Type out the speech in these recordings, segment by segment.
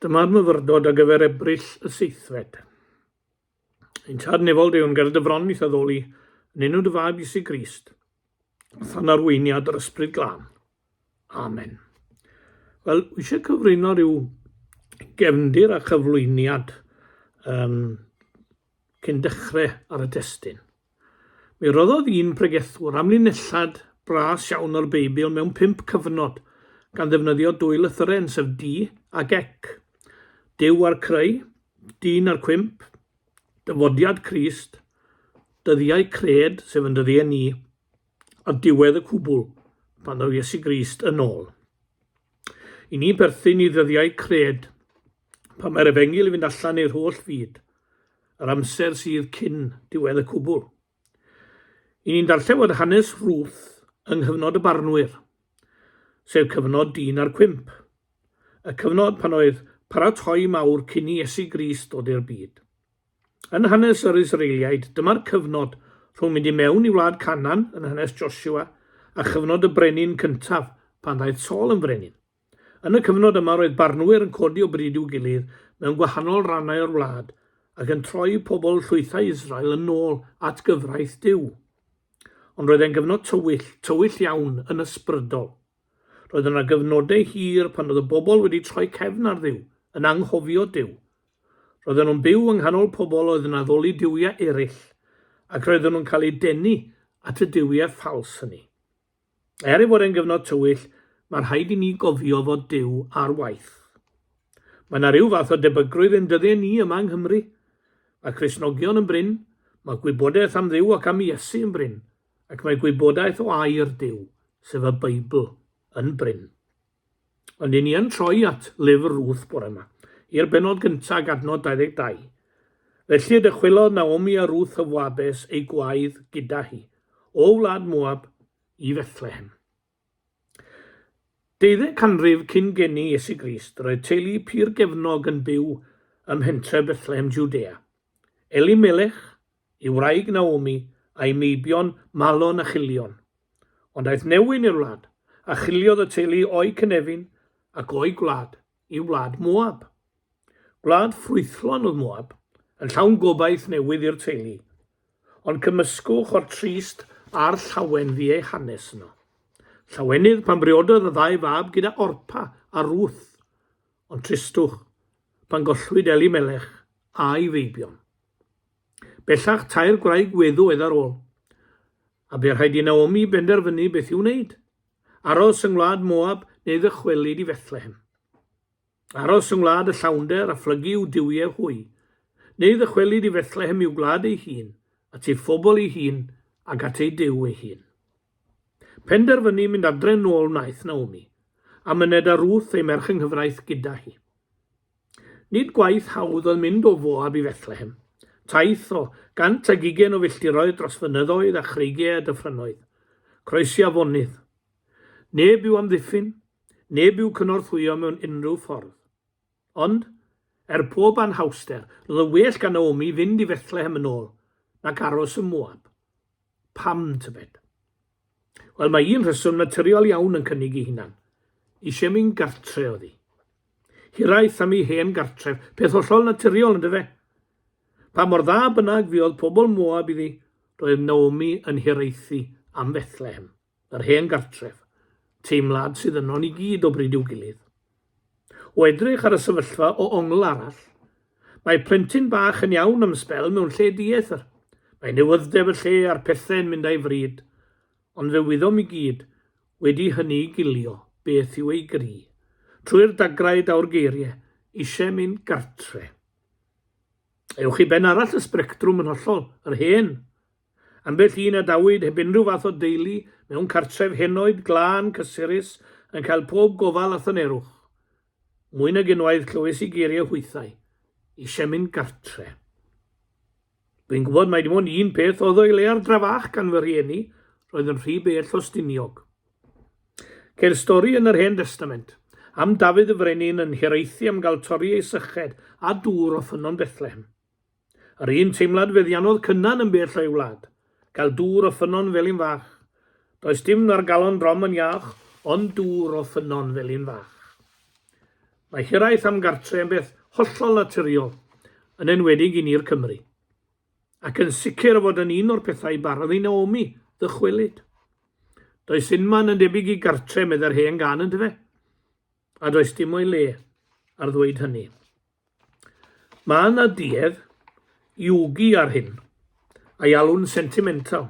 Dyma'r myfyrdod ar gyfer Ebrill y seithfed. Yn tad nefol Duw yn ger dy fron i'th addoli, yn enw dy fab Iesu Grist, than arweiniad yr ysbryd glân. Amen. Wel, wy eisiau cyfrwyno rhyw gefndir a chyflwyniad um, cyn dechrau ar y testyn. Mi roddodd un pregethwr amlinelliad bras iawn o'r Beibl mewn pump cyfnod, gan ddefnyddio dwy lythyren, sef di ac ek, Duw a'r creu, dyn a'r cwymp, dyfodiad Crist, dyddiau cred, sef yn dyddiau ni. Ar diwedd y cwbl, pan ddaw Iesu Grist yn ôl i ni berthyn i ddyddiau cred, pan mae'r efengyl i fynd allan i'r holl fyd, yr amser sydd cyn diwedd y cwbl. I ni'n darllen fod hanes Ruth yng nghyfnod y barnwyr, sef cyfnod dyn a'r cwymp, y cyfnod pan oedd paratoi mawr cyn i Iesu Grist ddod i'r byd. Yn hanes yr Israeliaid, dyma'r cyfnod rhwng mynd i mewn i wlad Canan yn hanes Josua a chyfnod y brenin cyntaf pan ddaeth Saul yn frenin. Yn y cyfnod yma roedd barnwyr yn codi o bryd i'w gilydd mewn gwahanol rannau o'r wlad ac yn troi pobl llwythau Israel yn ôl at gyfraith Duw. Ond roedd e'n gyfnod tywyll, tywyll iawn yn ysbrydol. Roedd yna gyfnodau hir pan oedd y bobl wedi troi cefn ar Dduw, yn anghofio Duw, Roedden nhw'n byw yng nghanol pobl oedd yn addoli duwiau eraill, ac roedden nhw'n cael eu denu at y duwiau ffals hynny. Er ei fod e'n gyfnod tywyll, mae rhaid i ni gofio fod Duw ar waith. Mae yna rhyw fath o debygrwydd yn dyddiau ni yma yng Nghymru. Mae Cristnogion yn brin, mae gwybodaeth am Dduw ac am Iesu yn brin, ac mae gwybodaeth o air Duw, sef y Beibl, yn brin. Ond i ni yn troi at lyfr Ruth bore yma, i'r benod gyntaf ag adnod 22. Felly dychwelodd Naomi a Ruth y Foabes, ei gwaedd, gyda hi, o wlad Moab, i Fethlehem. Deuddeg canrif cyn geni Iesu Grist, roedd teulu pur gefnog yn byw ym mhentre Bethlehem Judea. Elimelech, Ei wraig Naomi a'i meibion Malon a Chilion. Ond aeth Newin i'r wlad, a chiliodd y teulu o'u cynefin ac o'u gwlad i wlad Moab. Gwlad ffrwythlon oedd Moab, yn llawn gobaith newydd i'r teulu. Ond cymysgwch o'r trist a'r llawen fu eu hanes yno. Llawenydd pan briododd y ddau fab gyda Orpa a Ruth, ond tristwch pan gollwyd Elimelech a'i feibion. Bellach, tair gwraig weddw oedd ar ôl, a bu rhaid i Naomi benderfynu beth i'w wneud, aros yng ngwlad Moab neu ddychwelyd i Fethlehem. Aros yng ngwlad y llawnder a phlygu i'w duwiau hwy, neu ddychwelyd i Fethlehem i'w gwlad ei hun, at ei phobl ei hun ac at ei Duw ei hun. Penderfynu mynd adre nôl wnaeth Naomi, a myned â Ruth ei merch yng nghyfraith gyda hi. Nid gwaith hawdd oedd mynd o Foab i Fethlehem, taith o gant ag ugain o filltiroedd dros fynyddoedd a chreigiau a dyffrynnoedd, croesi afonydd. Neb i'w amddiffyn, neb i'w cynorthwyo mewn unrhyw ffordd. Ond, er pob anhawster, roedd yn well gan Naomi fynd i Fethlehem yn ôl, nac aros ym Moab. Pam, tybed? Wel, mae un rheswm naturiol iawn yn cynnig ei hunan. Eisiau mynd gartre oddi. Hiraeth am ei hen gartref, peth hollol naturiol yn dyfe? Pa mor dda bynnag fuodd pobl Moab iddi, roedd Naomi yn hiraethu am Fethlehem. yr hen gartref, teimlad sydd yno ni gyd o bryd i'w gilydd. O edrych ar y sefyllfa o ongl arall, mae plentyn bach yn iawn am sbel mewn lle dieithr. Mae newyddef y lle a'r pethau'n mynd a'i fryd, ond fe wyddom i gyd wedi hynny i gilio beth yw ei gri, trwy'r dagrau daw'r geiriau, eisiau mynd gartre. Ewch i ben arall y sbrectrwm yn hollol, yr hen Ambell un a dawyd heb unrhyw fath o deulu mewn cartref henoed, glân, cysurus, yn cael pob gofal a thynerwch. Mwy nag unwaith clywais i geiriau hwythau, Eisiau mynd gartre. Dwi'n gwybod mai dim ond un peth oedd o'i le ar dra fach gan fy rhieni, roedd yn rhy bell o Stiniog. Ceir stori yn yr Hen Destament am Dafydd y Frenin yn hiraethu am gael torri ei syched a dŵr o ffynnon Bethlehem. Yr un teimlad feddiannodd Cynan yn bell o'i wlad, gael dŵr o ffynnon Felin Fach. Does dim na'r galon drom yn iach ond dŵr o ffynnon Felin Fach. Mae hiraeth am gartre yn beth hollol naturiol, yn enwedig i ni'r Cymry. Ac yn sicr o fod yn un o'r pethau barodd i Naomi ddychwelyd. Does unman yn debyg i gartre, meddai'r hen gân yndyfe? A does dim o'i le ar ddweud hynny. Mae yna duedd Yugi ar hyn, a'i alw'n sentimental.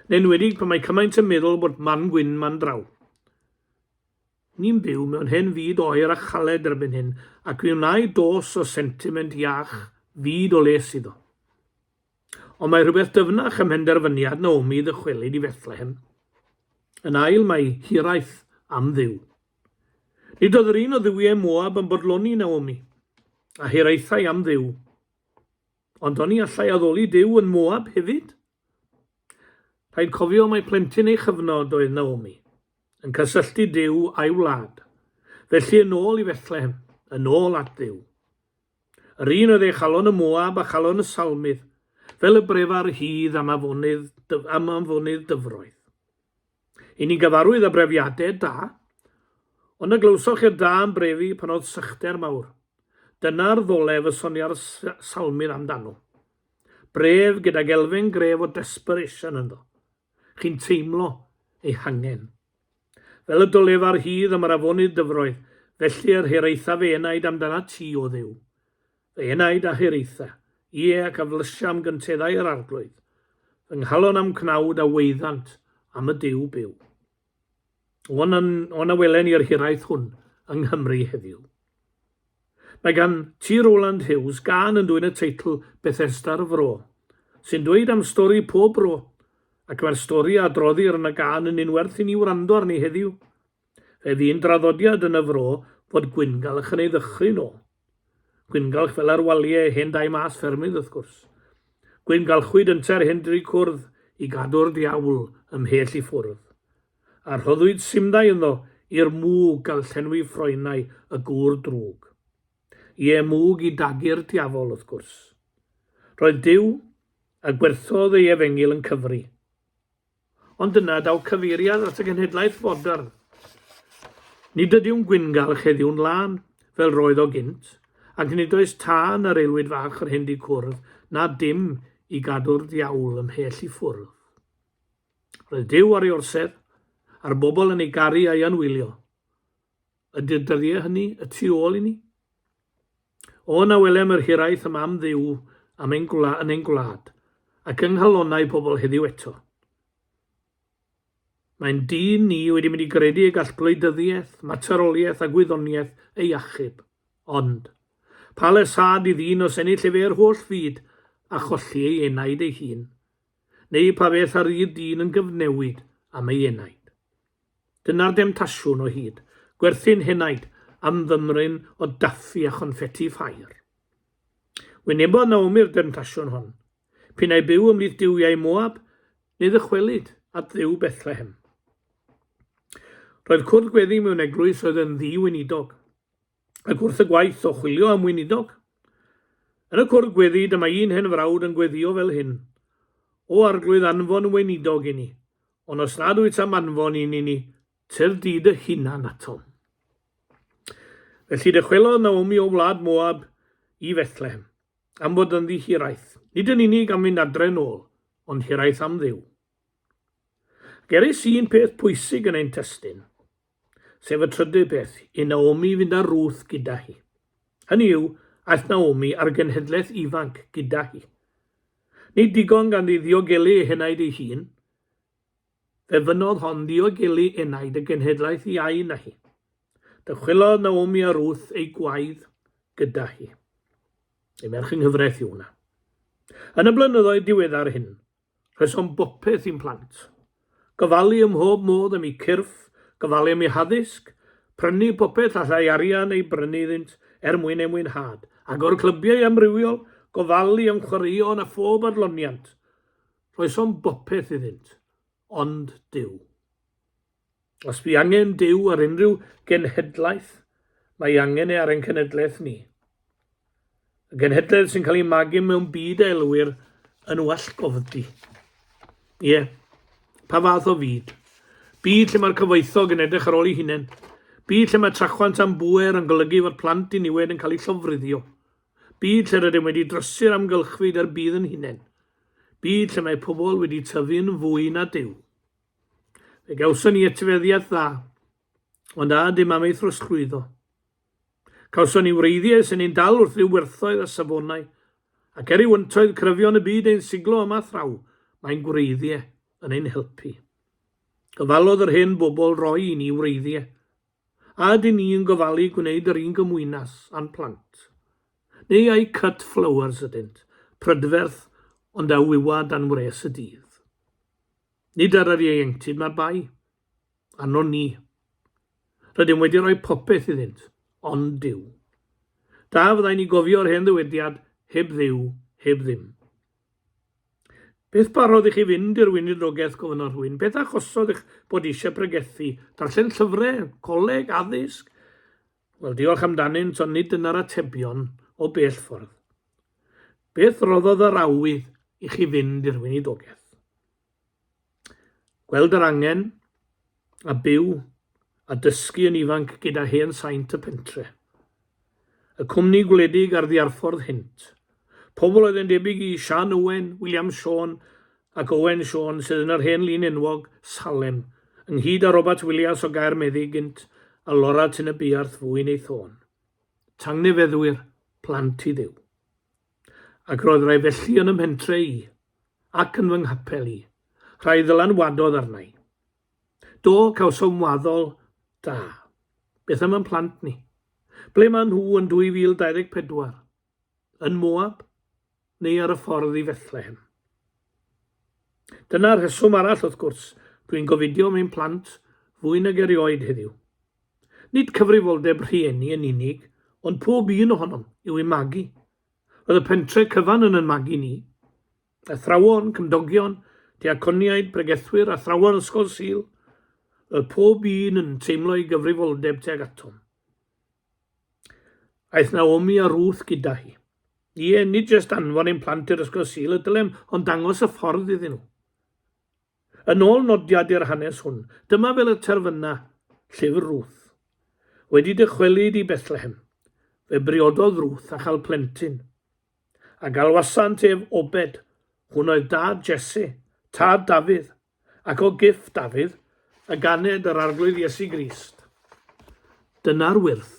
Yn enwedig pan mae cymaint yn meddwl bod man gwyn man draw. Ni'n byw mewn hen fyd oer a chaled erbyn hyn, ac mi wnai dos o sentiment iach fyd o les iddo. Ond mae rhywbeth dyfnach ym mhenderfyniad Naomi ddychwelyd i Fethlehem. Yn ail, mae hiraeth am Dduw. Nid oedd yr un o dduwiau Moab yn bodloni Naomi, a hiraethai am Dduw. Ond oni allai addoli Duw yn Moab hefyd? Rhaid cofio mai plentyn ei chyfnod oedd Naomi, yn cysylltu Duw a'i wlad. Felly yn ôl i Fethlehem, yn ôl at Dduw. Yr un oedd ei chalon y Moab a chalon y Salmydd, fel y brefa rhydd am anfonydd dyfroedd. I ni gyfarwydd â brefiadau da, ond na glywsoch i'r da yn brefu pan oedd sychder mawr. Dyna'r ddolef y sonia'r Salmydd amdano. Bref gydag elfen gref o desperation ynddo. chi'n teimlo eu hangen. Fel y dolefa rhydd am yr afonydd dyfroedd, felly yr hiraetha fy enaid amdanat ti, O Dduw. Fy enaid a hiraetha, ie, ac a flysia am gynteddau yr arglwydd, fy nghalon a'm cnawd a waeddant am y Duw byw. O'n, o'n a welen i'r hiraeth hwn yng Nghymru heddiw. Mae gan T. Rowland Hughes gân yn dwyn y teitl Bethesda'r Fro, sy'n dweud am stori pob bro, ac mae'r stori a droddir yn y gân yn un werth i ni wrando arni heddiw. Fe fu un draddodiad yn y fro fod gwyngalch yn ei ddychryn o. Gwyngalch fel ar walie hen dai mas ffermydd wrth gwrs. Gwyngalchwyd ynte'r hen dri cwrdd i gadw'r diawl ymhell i ffwrdd. A rhoddwyd simdai ynddo i'r mwg ga'l llenwi ffroenau y gŵr drwg. Ie, mwg i dagu'r diafol wrth gwrs. Roedd Duw, a gwerthodd ei efengyl yn cyfri. Ond dyna daw cyfeiriad at y genhedlaeth fodern. Nid ydyw'n gwyngalch heddiw'n lân, fel roedd o gynt, ac nid oes tân yr aelwyd fach yr hyn di cwrdd, na dim i gadw'r ddiawl ymhell i ffwrdd. Roedd Duw ar ei orsedd, a'r bobl yn ei garu a'i anwylio. Ydy'r dyddiau hynny y tu ôl i ni? O na welem yr hiraeth yma am Dduw am ein gwla, yn ein gwlad, ac yng nghalonnau pobl heddiw eto. Mae'n dyn ni wedi mynd i gredu y gall gwleidyddiaeth, materoliaeth a gwyddoniaeth ei achub. Ond, pa le sad i ddyn os ennill efe yr holl fyd a cholli ei enaid ei hun? Neu pa beth a rydd dyn yn gyfnewid am ei enaid? Dyna'r demtasiwn o hyd, gwerthu'n henaid am fymryn o daffi a chonffeti ffair. Wynebodd Naomi'r demtasiwn hon. P'un ai byw ymhlith duwiau Moab, ni ddychwelyd at Dduw Bethlehem. Roedd cwrdd gweddi mewn eglwys oedd yn ddi-weinidog. ac wrth y gwaith o chwilio am weinidog. Yn y cwrdd gweddi, dyma un hen frawd yn gweddio fel hyn, O Arglwydd, anfon weinidog i ni, ond os nad wyt am anfon un i ni, tyf di dy hunan atom. Felly dychwelodd Naomi o wlad Moab i Fethlehem, am fod yn ddi hiraeth, nid yn unig am fynd adre'n ôl, ond hiraeth am ddiw. Geris un peth pwysig yn ein testyn. sef y trydydd beth, i Naomi fynd â Ruth gyda hi. Hynny yw, aeth Naomi a'r genhedlaeth ifanc gyda hi. Nid digon ganddi ddiogelu ei henaid ei hun, fe fynnodd hon ddiogelu enaid y genhedlaeth iau na hi. Dychwelodd Naomi a Ruth ei gwaedd gyda hi. Ei merch yng nghyfraith yw hwnna. Yn y blynyddoedd diweddar hyn, Rheswm bopeth i'n plant. Gofalu ym mhob modd am eu cyrff, gofalu am eu haddysg, prynu popeth allai arian ei brynu iddynt er mwyn eu mwynhad, agor clybiau amrywiol, gofalu am chwaraeon a phob adloniant. Rhoesom bopeth iddynt. Ond Duw. Os bu angen Duw ar unrhyw genhedlaeth, mae angen e ar ein cenedlaeth ni. Y genhedlaeth sy'n cael ei magu mewn byd a elwir yn wallgofdi. Ie, yeah. pa fath o fyd? Byd lle mae'r cyfoethog yn edrych ar ôl ei hunain. Byd lle mae trachwant am bwer yn golygu fod plant i niwed yn cael eu llofruddio. Byd lle rydym wedi drosi'r amgylchfyd a'r bydd yn hunain. Byd lle mae pobl wedi tyfu'n fwy na Duw. Fe gawson ni etifeddiaeth dda, ond a ydym am ei throsglwyddo? Cawson ni wreiddiau sy'n ein dal wrth ryw werthoedd a safonau, ac er i wyntoedd cryfion y byd ein siglo yma thraw, mae'n gwreiddiau yn ein helpu. Gofalodd yr hen bobl roi i ni wreiddiau, a ydyn ni yn gofalu gwneud yr un gymwynas a'n plant? Neu ai cut flowers ydynt, prydferth ond a wywa dan wres y dydd? Nid ar yr ieuenctid mae'r bai. Arnon ni. Rydym wedi rhoi popeth iddynt, ond Duw. Da fyddai ni gofio'r hen ddywediad, heb dduw, heb ddim. Beth barodd i chi fynd i'r weinidrogaeth gofynnodd rhywun? Beth achosodd eich bod eisiau pregethu? Darllen llyfrau, coleg, addysg? Wel, diolch amdanynt, ond nid dyna'r atebion o bell ffordd. Beth roddodd yr awydd i chi fynd i'r weinidogaeth? Gweld yr angen, a byw, a dysgu yn ifanc gyda hen saint y pentre. Y cwmni gwledig ar ddiarffordd hynt, Pobl oedd yn debyg i Siân Owen, William Siôn ac Owen Siôn sydd yn yr hen lun enwog, Salem, ynghyd â Robert Willias o Gaer Meddu gynt a Lora Tyn y Buarth fu'n ei thôn. Tangnefeddwyr, plant i Dduw. Ac roedd rai felly yn 'y mhentre i, ac yn fy nghapel i, rhai ddylanwadodd arna i. Do, cawsom waddol da. Beth am yn plant ni? Ble maen nhw yn 2024? yn Moab neu ar y ffordd i Fethlehem. Dyna'r rheswm arall, wrth gwrs, dwi'n gofidio mewn plant fwy nag erioed heddiw. Nid cyfrifoldeb rhieni yn unig, ond pob un ohonom yw ei magu. Roedd y pentre cyfan yn yn magu ni. Athrawon, cymdogion, diaconiaid, pregethwyr, athrawon ysgol sil, roedd pob un yn teimlo ei gyfrifoldeb tuag atom. Aeth Naomi a Ruth gyda hi. Ie, nid jyst anfon ein plant i'r ysgol Sul y dylem, ond dangos y ffordd iddyn nhw. Yn ôl nodiad i'r hanes hwn, dyma fel y terfyna llyfr Ruth. Wedi dychwelyd i Bethlehem, fe briododd Ruth a chael plentyn. A galwasant ef Obed, hwn oedd dad Jesse, tad Dafydd, Ac o giff Dafydd, a ganed yr Arglwydd Iesu Grist. Dyna'r wyrth.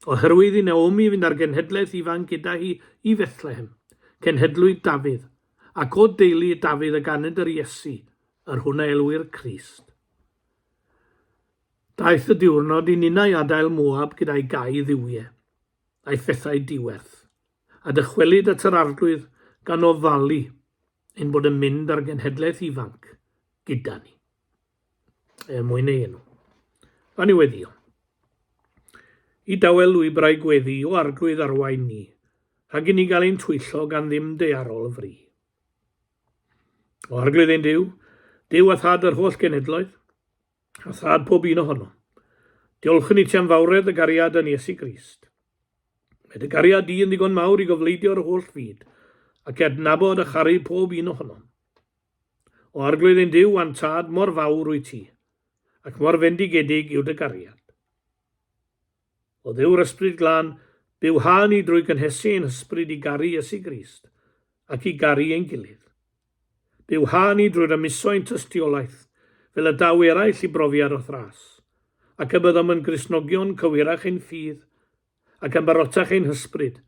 Oherwydd i Naomi fynd â'r genhedlaeth ifanc gyda hi i Fethlehem, cenhedlu Dafydd, ac o deulu Dafydd a ganed yr Iesu, yr hwn a elwir Crist. Daeth y diwrnod i ninnau adael Moab gyda'i gau dduwiau, a'i phethau diwerth, a dychwelyd at yr Arglwydd gan ofalu, ein bod yn mynd ar genhedlaeth ifanc gyda ni, er mwyn ei enw. A niweddio. I dawel lwybrau gweddi o arglwydd arwain ni, rhag i ni gael ein twyllo gan ddim dearol y fri. O arglwydd ein Dyw, Dyw a Thad yr holl genedloedd, a thad pob un ohonom. Diolchwn i ti am fawredd y gariad yn Iesu Grist. Mae dy gariad di yn ddigon mawr i gofleidio'r holl fyd ac ednabod a charu pob un ohonom. O arglwydd ein Dyw a'n Tad, mor fawr wyt ti, ac mor fendigedig yw dy gariad. O Dduw'r Ysbryd Glân, byw ha ni drwy gynhesu ein hysbryd i garu Iesu Grist, ac i garu ein gilydd. Byw ha ni drwy rymuso ein tystiolaeth, fel y daw eraill i brofiad o thras, ac y byddom yn Gristnogion cywirach ein ffydd, ac yn barotach ein hysbryd,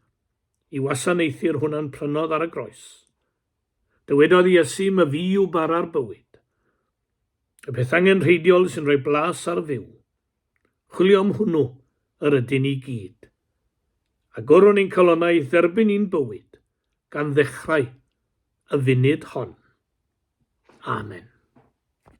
i wasanaethu'r hwn a'n prynodd ar y groes. Dywedodd Iesu, my fi yw bara'r bywyd. Y peth angenrheidiol sy'n rhoi blas ar fyw. Chwilio am hwnnw yr ydyn ni gyd. Agorwn ein calonnau i'th dderbyn i'n bywyd, gan ddechrau y funud hon. Amen.